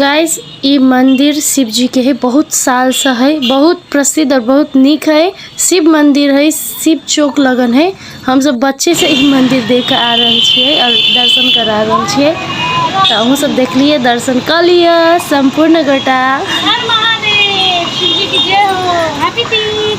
guys ई मंदिर शिव जी के है बहुत साल से है बहुत प्रसिद्ध और बहुत निक है शिव मंदिर है शिव चौक लगन है हम सब बच्चे से ई मंदिर देख के आ रहल छियै और दर्शन करा रहल छियै तऽ अहूँ सब देखलियै दर्शन कऽ लिअ सम्पूर्ण गोटा हर महादेव शिव जी की जय हो happy Teej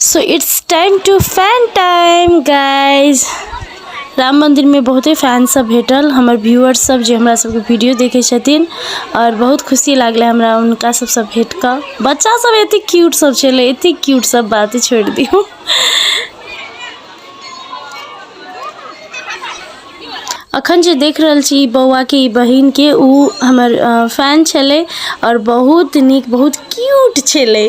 so it's time to fun time guys Ram मन्दिरमे बहुते फैनसभ भेटल हमर व्यूअर्ससभ जे हमरा सभके वीडियो देखै छथिन आओर बहुत खुशी लागलै हमरा हुनका सभसँ भेट कऽ बच्चासभ एतेक क्यूटसभ छलै एतेक क्यूटसभ बात छोड़ि दियौ अखन जे देख रहल छी ई बौआके ई बहिनके ओ हमर फैन छलै आओर बहुत नीक बहुत क्यूट छलै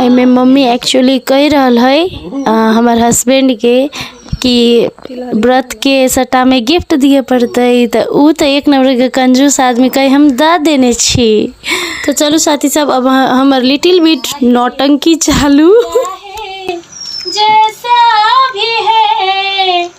एहिमे मम्मी एक्चुअली कहि रहल हइ अ, हमर हस्बैंड के कि व्रत के सट्टा में गिफ्ट दिए पड़तै तऽ ऊ तऽ एक नंबर के कंजूस आदमी कहे हम दऽ देने छी तऽ चलू साथी सब अब अहाँ- हमर लिटिल बिट नौटंकी चालू जैसा भी है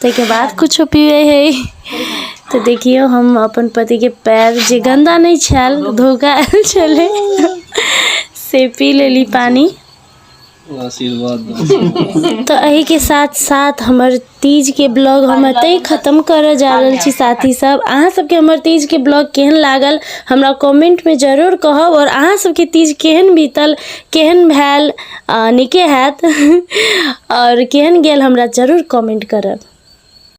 ताहिके बाद किछो पीबै हइ तऽ देखियौ हम अपन पतिके पैर जे गन्दा नहि छल धोखा आयल छलै से पी लेली पानि तऽ एहिके साथ साथ हमर तीजके ब्लॉग हम एतहि खतम करऽ जा रहल छी साथी सब अहाँ सबके हमर तीजके ब्लॉग केहन लागल हमरा कमेंटमे जरूर कहब आओर अहाँ सबके तीज केहन बीतल केहन भेल आ नीके हैत आओर केहन गेल हमरा जरूर कमेंट करब